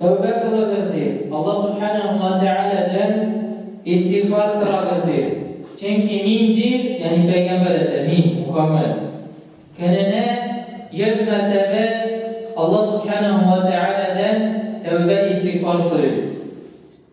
Тәүбә кылыгыз, ди. Алла Сүбхәнәһү ва Тәгаләдән истигъфар сорагыз, ди. Чөнки мин, ди, ягъни пәйгамбәр әйтә, мин, Мухаммәд, көненә йөз мәртәбә Алла Сүбхәнәһү ва Тәгаләдән тәүбә-истигъфар сорыйм.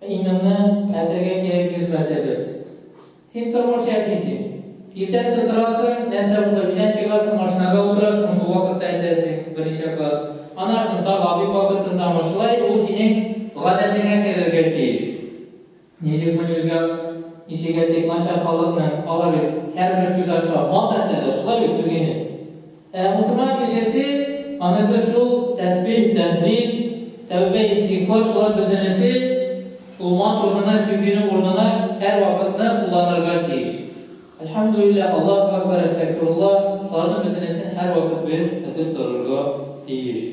Иминны хәтергә кире кертмәсә бер. Син тормыш яшисең. Иртәсе торасың, нәрсә булса өйдән чыгасың, машинага утырасың, шул вакытта әйтәсең, берничә кат. Аннан соң тагы обед вакытындамы, шулай ул синең гадәтеңә керергә тиеш. Ничек моны үзгә ничек әйтик, начар халыкның, алар бит һәрбер сүз аша мат әйтәләр, шулай бит, Сергейны? Ә мусульман кешесе, аныкы шул, тәсбих, тәһлил, тәүбә, истигъфар, шулар бөтенесе шул мат урынына, сөйгенең урынына һәрвакытны кулланырга тиеш. Әлхәмдүлилләһ, Аллаһу әкбәр, әстәгъфирулла, шуларның бөтенесен һәрвакыт без әйтеп торырга тиеш.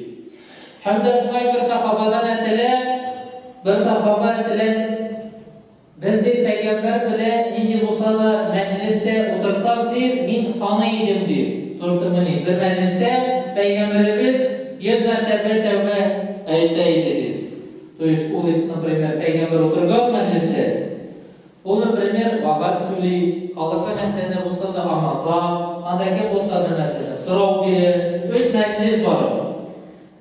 Һәм дә шулай бер сахабадан әтелә, бер сахаба әтелә. Без, ди, пәйгамбәр белә нинди булса да мәҗлестә утырсак, ди, мин саный идем, ди, Туртумыни, бер мәҗлестә пәйгамбәребез йөз мәртәбә тәүбә әйтә иде, ди. То есть ул, например, пәйгамбәр утырган мәҗлестә, ул, например, вәгазь сөйли, халыкка нәрсә дә булса да аңлата, анда кем булса да, мәсәлән, сорау бирә, өч мәҗлес бара.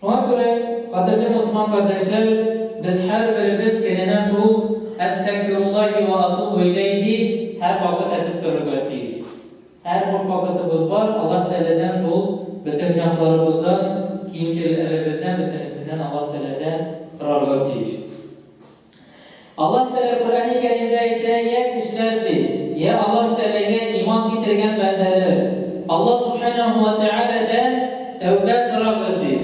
Шуңа күрә, кадерле мөселман кардәшләр, без һәрберебез көненә шул Әстәгъфируллаһи вә атубу иләйһи һәрвакыт әйтеп торырга тиеш. Һәр буш вакытыбыз бар, Аллаһ Тәгаләдән шул бөтен гөнаһларыбыздан, кимчелеләребездән бөтенесеннән Аллаһ Тәгаләдән сорарга тиеш. Аллаһ Тәгалә Коръәни Кәримдә әйтә, Йә кешеләр, ди, йә Аллаһ Тәгаләгә иман китергән бәндәләр, Аллаһ Сүбхәнәһү вә Тәгаләдән тәүбә сорагыз, ди.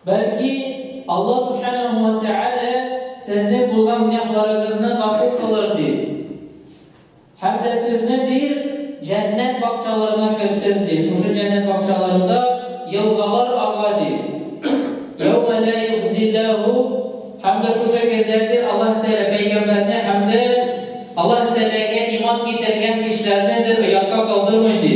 Бәлки, Аллаһ Сүбхәнәһү вә Тәгалә сезнең булган гөнаһларыгызны гафу кылыр, ди. Һәм дә сезне дип җәннәт бакчаларына кертер, ди, шушы җәннәт бакчаларында елгалар ага, ди. Йәүмә лә юхзилләһу Һәм дә шушы көндә, ди, Аллаһ Тәгалә пәйгамбәрне һәм дә Аллаһ Тәгаләгә иман китергән кешеләрне, ди, оятка калдырмый, ди.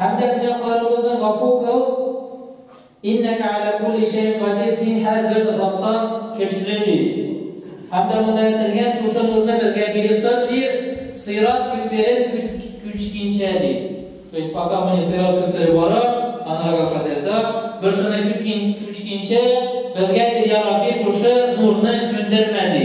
Һәм дә гөнаһларыбызны гафу кыл, Иннәкә галә кулли шәйин кадир, Син һәрбер заттан көчле, ди. Һәм дә монда әйтелгән шушы нурны безгә биреп тор, ди, Сыйрат күперен күчкинчә, ди. То есть пока мы не сыйрат күпере бара, анарга кадәр дә, без шуны күткин, күчкинчә, безгә, ди, Йа Рабби, шушы нурны сүндермә, ди.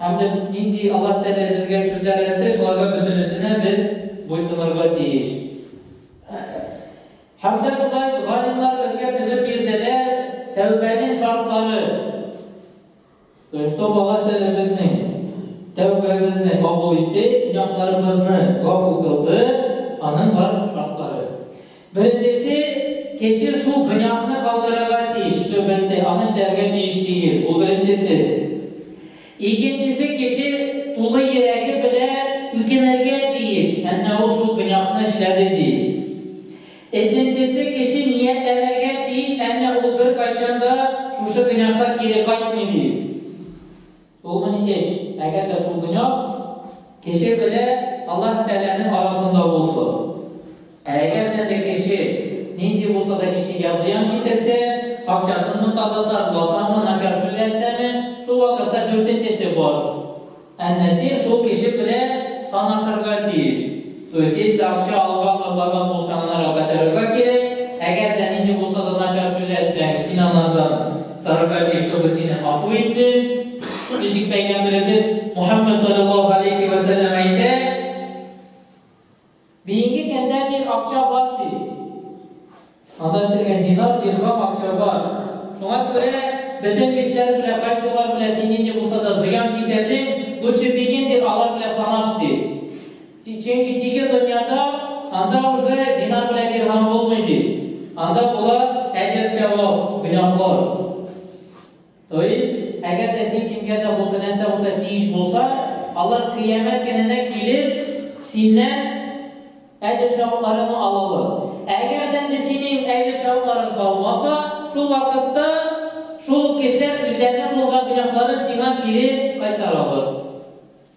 Һәм дә нинди Аллаһ Тәгалә безгә сүзләр әйтте, шуларга бөтенесенә без буйсынырга тиеш. Һәм дә шулай галимнар безгә төзеп бирделәр тәүбәнең шартлары. Дөрестә Аллаһ Тәгалә безнең тәүбәбезне кабул итте, гөнаһларыбызны гафу кылды, аның бар шартлары. Беренчесе, кеше шул гөнаһны калдырырга тиеш, сөгенде, аны эшләргә тиеш тигел, ул беренчесе. Икенчесе, кеше тулы йөрәге белән үкенергә тиеш, әннә ул шул гөнаһны эшләде ди. Өченчесе, кеше ниятләнергә тиеш, әннә ул беркайчан да шушы гөнаһка кире кайтмый ди. Ул гыни эш, әгәр дә шул дөнья кеше белә Аллаһ Тәгаләнең арасында булсын. Ә әгәр дә дә кеше нинди булса да кеше я зыян китерсә, акчасынмы таласа, ласамы, начар сүз әйтсәме, шул вакытта дүртенчесе бар. Әннәсир шул кеше белә санашырга тиеш. Үзегез дә акча алган затлардан бушанырга котырырга кирәк, әгәр дә нинди булса да начар сүз әйтсәң, син анардан сарырга тиеш, чтобы сине гафу итсен. Ничек Пәйгамбәребез Мухаммәд салләллаһу галәйһи вә сәлләм әйтә, Бөенге кемдә тир акча бар, ди. Анда бетергән динар, дирхам акча бар. Шуңа күрә бөтен кешеләр белән, кайсылар белән син нинди булса да зыян китердең, лучше бегим дип алар белән санаш, ди. Чөнки тиге дөньяда, анда уже динар белән дирхам булмый, ди. Анда була әҗер-сәвап, гөнаһлар. То есть, әгәр дә син кемгә дә булса, нәрсә булса тиеш булса, алар Кыямәт көненә килеп, синнән әҗер-савапларыңны алалар. Ә әгәр дә инде синең әҗер-савапларың калмаса, шул вакытта шул ук кешеләр үзләренең кылган гөнаһларын сиңа кире кайтаралар.